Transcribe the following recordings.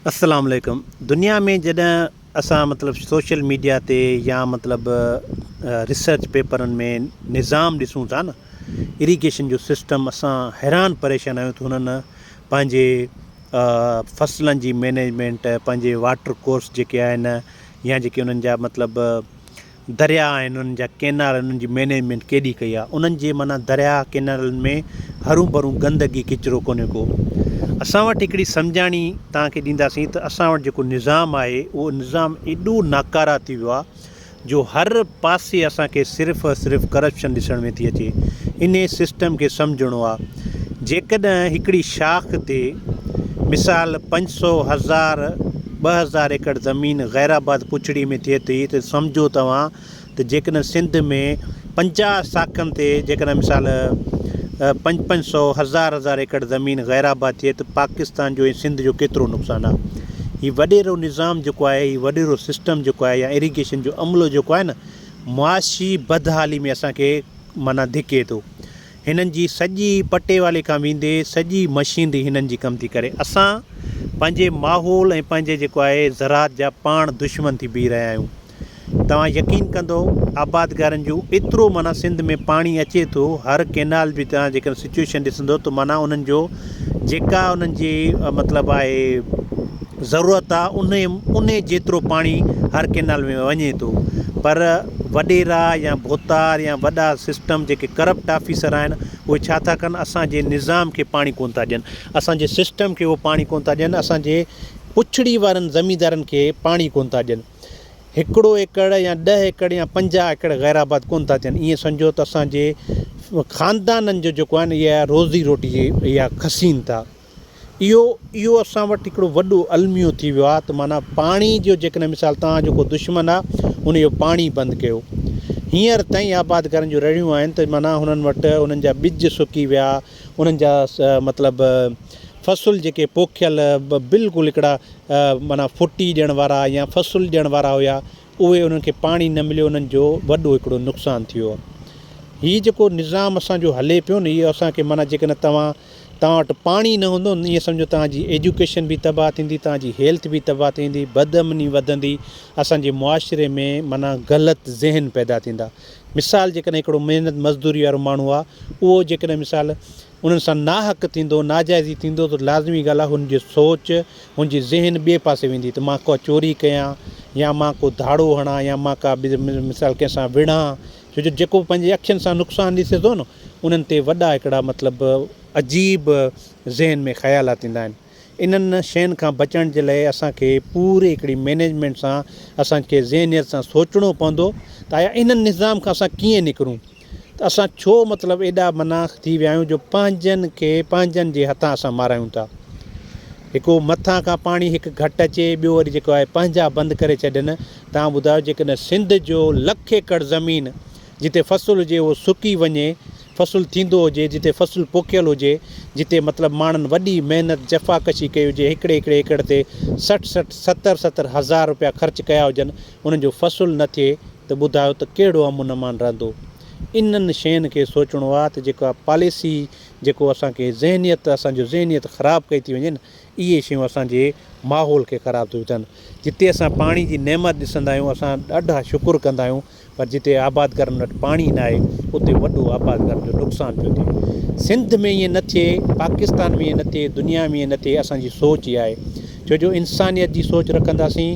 السلام عليڪم دنيا ۾ جڏهن اسان مطلب سوشل ميڊيا تي يا مطلب ريسرچ پيپرن ۾ نظام ڏسون ٿا نه ايريگيشن جو سسٽم اسان حيران پريشان آهيون ته هنن پنهنجي فصلن جي مينيجمينٽ پنهنجي واٽر ڪورس جيڪي آهن يا جيڪي انهن جا مطلب درياء آهن انهن جا ڪينال انهن جي مينيجمينٽ ڪيڏي ڪئي آهي انهن جي معنيٰ درياء ڪينالن ۾ هرون ڀرون گندگي ڪچرو ڪونهي ڪو اسان وٽ هڪڙي سمجهاڻي توهان کي ڏينداسين ته اسان وٽ جيڪو نظام آهي اهو نظام ايڏو ناڪاره ٿي ويو آهي جو هر پاسي اسان کي صرف صرف ڪرپشن ڏسڻ ۾ ٿي اچي انهي سسٽم کي سمجهڻو آهي جيڪڏهن هڪڙي شاخ تي مثال پنج سو هزار ٻه هزار ايڪڙ زمين غيرآباد پڇڙي ۾ ٿئي ٿي ته سمجهو توهان ته جيڪڏهن سنڌ ۾ پنجاهه شاخن تي جيڪڏهن مثال پنج پنج سو هزار هزار ايڪڙ زمين غيرآباد ٿئي ته پاڪستان جو ۽ سنڌ جو ڪيترو نقصان آهي هي وڏيرو نظام جيڪو آهي هي وڏيرو سسٽم جيڪو آهي يا اريگيشن جو عملو جيڪو آهي نه معاشي بدحالي ۾ اسان کي معنيٰ ڌڪي ٿو هنن جي سڄي پٽي والي کان ويندي سڄي مشينري هنن جي ڪم ٿي ڪري اسان پنهنجي ماحول ۽ پنهنجي جيڪو آهي زراعت جا پاڻ دشمن ٿي بيهي رهيا آهيون توهان يقين ڪندو آبادگارن جو ايترو معنيٰ سنڌ ۾ پاڻي اچي ٿو هر ڪينال جي توهان جيڪڏهن سچوئيشن ڏسندو ته معنيٰ انهن جو جيڪا انهن جي مطلب آهي ضرورت آ انهي انهي جيترو پاڻي هر ڪينال ۾ وڃي ٿو پر وڏيرا يا ڀوتار يا وڏا سسٽم جيڪي ڪرپٽ آفيسر آهن اهي ڇا ٿا ڪن اسانجي نظام کي پاڻي ڪون ٿا ڏين اسانجي سسٽم کي اهو پاڻي ڪون ٿا ڏين اسانجي پڇڙي وارن زميندارن کي پاڻي ڪون ٿا ڏين هڪڙو ايڪڙ يا ڏهه ايڪڙ يا پنجاهه ايڪڙ غير آباد ڪونه ٿا ٿين ائين سمجهو ته اسان جي خاندانن جو جيڪو آهي نه اها روزي روٽي جي اها کسين ٿا اهو اهو اسان وٽ هڪڙو وڏو الميو ٿي ويو آهي ته معنيٰ پاڻي جو جيڪڏهن مثال توهان جو ڪو دشمن آهي ان جو پاڻي بند ڪيو هينئر تائين آباد گارن جون رڙيون آهن ته معنيٰ هنن وٽ انهن جا ٻج سڪي ويا انهن جا مطلب فصل جيڪي پوکيل بلڪل هڪڙا معنيٰ ڦٽي ڏيڻ وارا يا فصل ڏيڻ وارا هيا اهي انهن کي پاڻي نه مليو انهن جو وڏو هڪڙو نقصان ٿيو هي جيڪو نظام اسان جو هلي پيو نه اهو اسان کي معنيٰ جيڪڏهن توهان توهان وٽ پاڻي نه هوندو ائين سمجهو توهان جي ايجوڪيشن به تباهه ٿيندي توهان جي هيلٿ به تباهه ٿيندي بد امني وڌندي اسان جي معاشري ۾ معنيٰ غلط ذهن پيدا ٿيندا مثال جيڪڏهن هڪڙو محنت مزدوري وارو ماڻهو آهي اهو جيڪڏهن مثال انهن سان ناحق ٿيندو، ناجائزي ٿيندو ته لازمي ڳالهه آهي هن جي سوچ، هن جي ذهن ٻئي پاسي ويندي ته مان ڪا چوري ڪيان يا مان ڪو ڌاڙو هڻان يا مان ڪا مثال ڪنهن سان وڙهان ڇو جو جيڪو پنهنجي اکين سان نقصان ڏسي ٿو نه انهن تي وڏا هڪڙا مطلب عجيب ذهن ۾ خيالات ايندا آهن انهن شين کان بچڻ جي لاء اسان کي پوري هڪڙي مينيجمينٽ سان اسان کي ذهنيت سان سوچڻو پوندو ته آيا انهن نظام کان اسان ڪيئن نڪرون. ته اسان ڇو مطلب ايڏا مناخ ٿي ويا آهيون جو پنهنجن کي پنهنجن جي هٿان اسان مارايون ٿا. هڪو مٿان کان پاڻي هڪ گهٽ اچي ٻيو وري جيڪو آهي پنهنجا بند ڪري ڇڏين توهان ٻڌايو جيڪڏهن سنڌ جو لک ايڪڙ زمين جتي فصل هجي اهو سڪي وڃي فصل ٿيندو هجي جتي فصل پوکيل هجي جتي مطلب ماڻهن وڏي محنت جفا ڪشي ڪئي هجي هڪڙي هڪڙي ايڪڙ تي سٺ سٺ ستر ستر هزار روپيا خرچ ڪيا هجن ان جو فصل نه ٿئي ته ٻڌايو ته ڪهڙو امن امان رهندو. انهن شين کي سوچڻو آ ته جيڪا پاليسي جيڪو اسان کي ذهنيت اسان جو ذهنيت خراب ڪئي ٿي وڃي نه اهي شيون اسان جي ماحول کي خراب ٿي وڌن. جتي اسان پاڻي جي نعمت ڏسندا آهيون اسان ڏاڍا شڪر ڪندا آهيون پر جتي آبادگارن وٽ پاڻي نه آهي اتي وڏو آبادگارن جو نقصان پيو ٿئي. سنڌ ۾ ائين نه ٿئي پاڪستان ۾ ائين نه ٿئي دنيا ۾ ائين نه ٿئي اسان جي سوچ اها آهي. ڇو جو انسانيت جي سوچ رکنداسين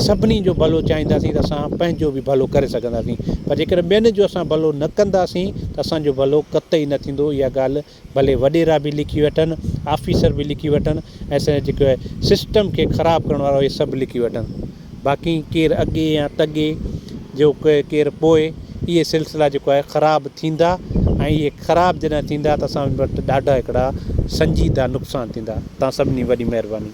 سڀني جو ڀلو چاهينداسين ته اسان پنهنجو به ڀلو ڪري سگهنداسين پر جيڪڏهن ٻين جو اسان ڀلو نه ڪنداسين ته اسانجو ڀلو قطعي نه ٿيندو اها ڳالهه ڀلي وڏيرا به لکي وٺن آفيسر به لکي وٺن اسان جيڪو سسٽم کي خراب ڪرڻ وارا اهي سڀ لکي وٺن باقي ڪير اڳي يا تڳي جو ڪير پوء اهي سلسلا جيڪو آهي خراب ٿيندا ۽ اهي خراب جڏهن ٿيندا ته اسان وٽ ڏاڍا هڪڙا سنجيده نقصان ٿيندا تان سڀني وڏي مهرباني